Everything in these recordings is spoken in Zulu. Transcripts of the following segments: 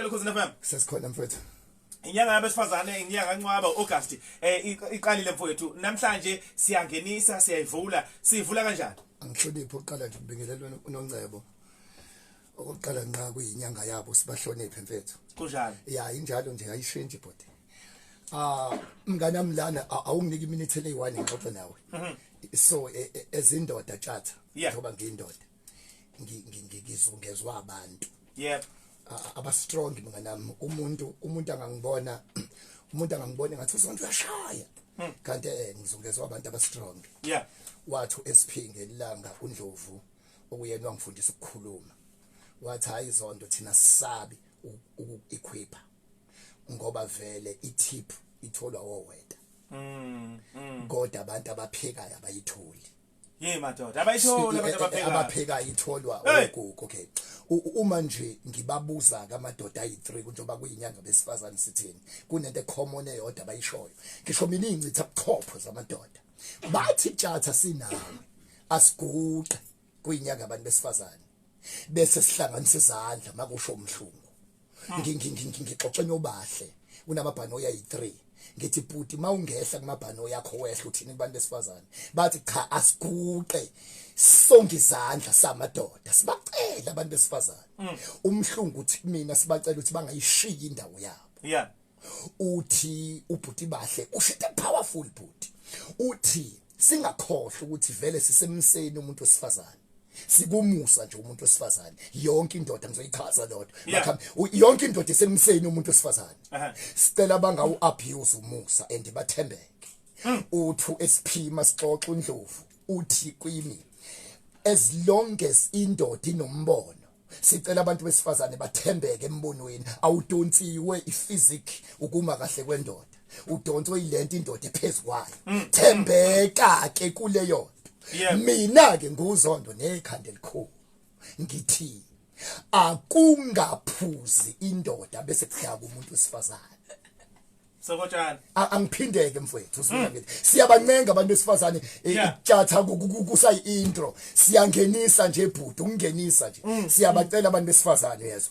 Khosini FM. Sesikhona mfethu. inyanga yabesifazane inyanga kancwaba August eh iqalile mfowethu namhlanje siyangenisa siyayivula sivula kanjani angihloniphi uqala nje ubingelelwe unongcebo okokuqala nqa kuyinyanga yabo sibahloniphe mfethu kunjalo ya injalo nje ayishintshi bhuti ah mngana mlana awunginiki iminute leyi-one ngixoxe nawe mhm. so e, e, ezindoda tshatha ngoba ngiyindoda ngizungezwa abantu yep aba strong mina nami umuntu umuntu angangibona umuntu angangibona ngathi usonto uyashaya hmm. kanti eh ngizungezwa abantu aba strong yeah wathu esiphinge ilanga undlovu okuyena wangifundisa ukukhuluma wathi hayi zonto thina sisabi ukuequipa ngoba vele itip itholwa woweta mm, mm. kodwa abantu abaphekayo abayitholi Hey madoda abayithola abantu abapheka abapheka itholwa ogogo okay uma nje ngibabuza kamadoda ayi3 kunjoba kuyinyanga besifazane sithini kunento common eyodwa bayishoyo ngisho mina ingcitha buchopho zamadoda bathi tshatha sinawe asiguqe kuyinyanga abantu besifazane bese sihlanganisa izandla makusho umhlungu ah. ngixoxe nobahle kunamabhanoyi ayi-3 ngithi bhuti uma ungehla kumabhanoyi yakho wehla uthini kubantu besifazane bathi cha asiguqe sonke izandla samadoda sibacela abantu besifazane mm. umhlungu uthi kumina sibacela ukuthi bangayishiyi indawo yabo yeah uthi ubhuti bahle ushite powerful bhuti uthi singakhohlwa ukuthi vele sisemseni umuntu wesifazane sikumusa nje umuntu wesifazane yonke indoda ngizoyichaza lodwa yeah. yonke indoda isemseni umuntu wesifazane uh -huh. sicela bangawu abuse umusa and bathembeke mm. uthu esiphima sixoxa undlovu uthi kwimi as long as indoda inombono sicela abantu besifazane bathembeke embonweni awudonsiwe iphysic ukuma kahle kwendoda udonswe ilento indoda ephezukwayo mm. thembeka ke kuleyo mina ke nguzondo nekhanda elikhulu ngithi akungaphuzi indoda bese kuhlaka umuntu wesifazane Sokotshana. Angiphindeke mfowethu uzwela hmm. ngithi siyabancenga abantu besifazane eh, itshatha kusayi intro siyangenisa nje bhuti ukungenisa nje hmm. siyabacela abantu besifazane yezo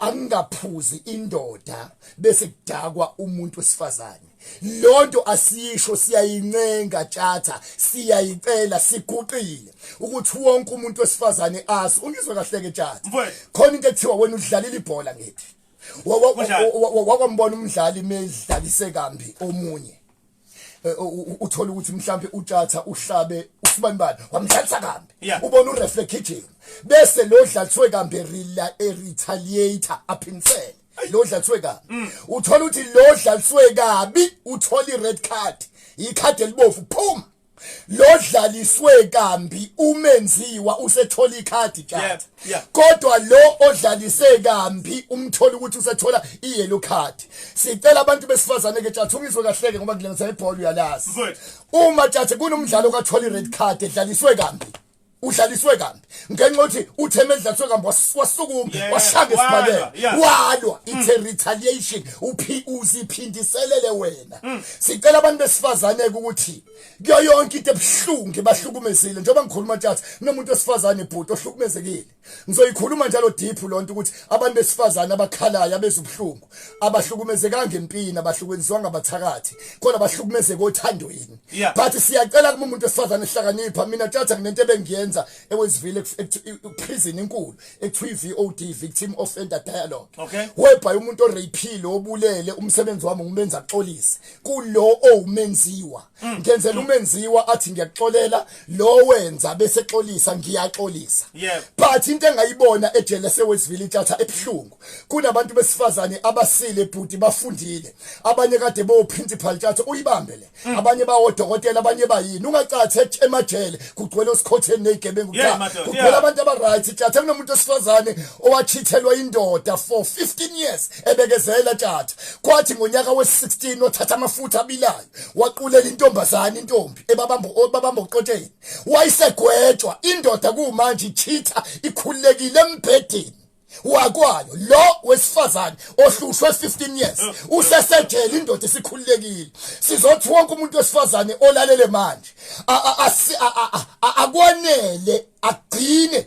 angingaphuzi indoda bese kudakwa umuntu wesifazane lonto asisho siyayincenga tshatha siyayicela siguqile ukuthi wonke umuntu wesifazane azi ungizwe kahle ke tshatha khona into ekuthiwa wena udlalela ibhola ngithi wakwambona umdlali medlalise kambi omunye eh, uthola ukuthi mhlambe utshatha uhlabe usibani bani wamdlalisa kambi ubona ureferee kitchen bese lo dlaliswe kambi rela e retaliator aphinsele lo dlaliswe kabi mm. uthola ukuthi lo dlaliswe kabi uthola i red card ikhadi elibovu phuma lodlaliswe kambi umenziwa usethola ikhadi card kodwa lo odlalise kambi umthola ukuthi usethola iyellow card sicela abantu besifazane ke chatha ungizwe kahleke ngoba kulengisa ibhola uyalazi uma chatha kunomdlalo kathola ired card edlaliswe kambi udlaliswe kambi ngenxa yokuthi utheme edlaliswe kambi wasukuma washanga esibhakela walwa mm. ithe retaliation uphi uziphindiselele wena mm. sicela abantu besifazane ukuthi kuyo yonke into ebuhlungu bahlukumezile njengoba ngikhuluma tjatha nomuntu wesifazane bhuti ohlukumezekile Ngizoyikhuluma njalo deep lonto ukuthi abantu besifazana abakhalayo abezubuhlungu abahlukumezekanga empini abahlukwenzwa ngabathakathi kodwa bahlukumezeka othandoyini but siyacela kuma umuntu wesifazana ehlakanipha mina thatha nginento ebengiyenza ewezivile prison enkulu ekuthiwa i-VOD victim offender dialogue okay. whereby umuntu oreyphile obulele umsebenzi wami ngumenza axolise kulo owumenziwa oh, Mm. ngenzela umenziwa athi ngiyaxolela lo wenza bese xolisa ngiyaxolisa but into engayibona ejele sewesivile intatha ebhlungu kunabantu besifazane abasile bhuti bafundile abanye kade bo principal tatha uyibambe le mm. abanye bawo dokotela abanye bayini ungacathe emajele kugcwele usikhotheni nezigebengu kugcwele abantu abaright tatha kunomuntu osifazane owachithelwa indoda for 15 years ebekezela tatha kwathi ngonyaka we-16 othatha amafutha abilayo waqulela intombazane intombi ebabamba obabamba uqotsheni wayisegwetshwa indoda kumanje ichitha ikhululekile embhedeni wakwayo lo wesifazane ohlushwe 15 years usesejele indoda isikhululekile sizothi wonke umuntu wesifazane olalele manje akwanele agcine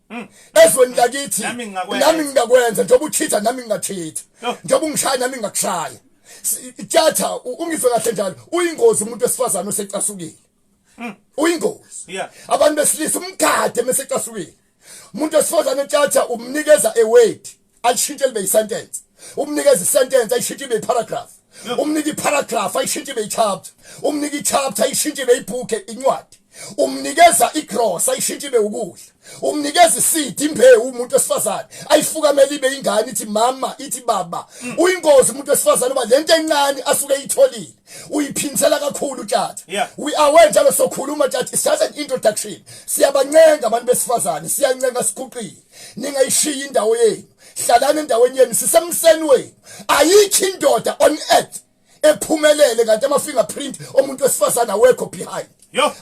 Mm. ezweni lakithi nami ngingakwenza njengoba uthitha nami ngingathitha njengoba ungishaya nami ngingakushaya tjatha ungizwe kahle njalo uyingozi umuntu wesifazane osecasukile mm. uyingozi abantu besilisa umgade mesecasukile umuntu wesifazane tjatha umnikeza eweight ayishintshe libe isentence umnikeza isentence ayishintshe ibe iparagraph umnika iparagraph ayishintshe ibe ichapter umnika ichapter ayishintshe ibe ibook incwadi umnikeza igrosa ayishintshe ibe ukudla umnikeza isidi imbewu umuntu wesifazane ayifukamele ibe ingane ithi mama ithi baba mm. uyingozi umuntu wesifazane uba lento encane asuke eyitholile uyiphinsela kakhulu tjata yeah. we are well njalo sokhuluma tjata it's just an introduction siyabancenga abantu besifazane siyancenga siguqile ningayishiya indawo yenu hlalani endaweni yenu sisemseni wenu ayikho indoda on earth ephumelele kanti ama fingerprint omuntu wesifazana awekho behind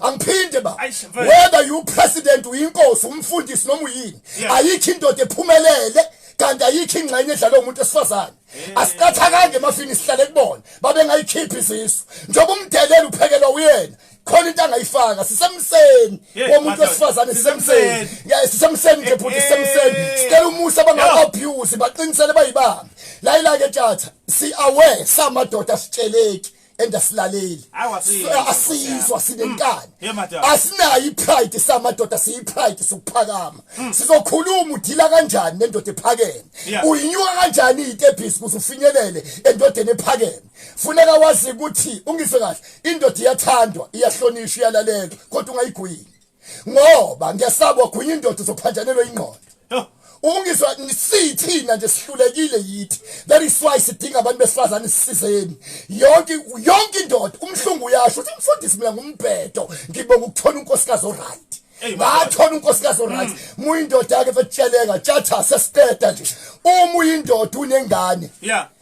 angiphinde ba whether you president uyinkosi umfundisi noma uyini ayikho indoda ephumelele kanti ayikho ingxenye edlala umuntu esifazane asiqathakanje emafini sihlale kubona babengayikhiphi izisu njengoba umdelela uphekelwa uyena khona into angayifaka sisemseni womuntu wesifazane sisemseni yeah sisemseni nje bhuti sisemseni sicela umusa banga abuse baqinisele bayibamba la ila ke tjatha si aware samadoda sitsheleki endasilaleli asizwa sinenkani mm. asinayo ipride samadoda siyipride sokuphakama mm. sizokhuluma udila kanjani nendoda ephakeme uyinyuka kanjani itebhisi kuze ufinyelele endodeni ephakeme funeka wazi ukuthi ungise kahle indoda iyathandwa iyahlonishwa iyalalelwa kodwa ungayigwini ngoba ngiyasaba gwinye indoda uzophanjanelwa ingqondo ungizwa sithina nje sihlulekile yithi that is why sidinga abantu besifazane sisizeni yonke yonke indoda umhlungu uyasho uthi mfundisi mina ngumbhedo ngibonga ukuthola unkosikazi oright ngathola unkosikazi oright mm. muyindoda yake fetsheleka tshatha sesiteta nje uma uyindoda unengane yeah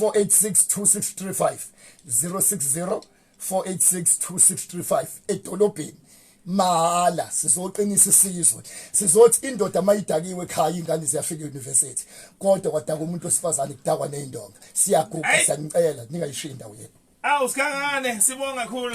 4862635 060 4862635 edolobheni mahala sizoqinisa isizwe sizothi indoda mayidakiwe ekhaya ingane ziyafika euniversity kodwa kwadaka umuntu osifazane kudakwa nezindonga siyaguqa siyanicela ningayishiyi indawo yenu awu sikhangane sibonga kakhulu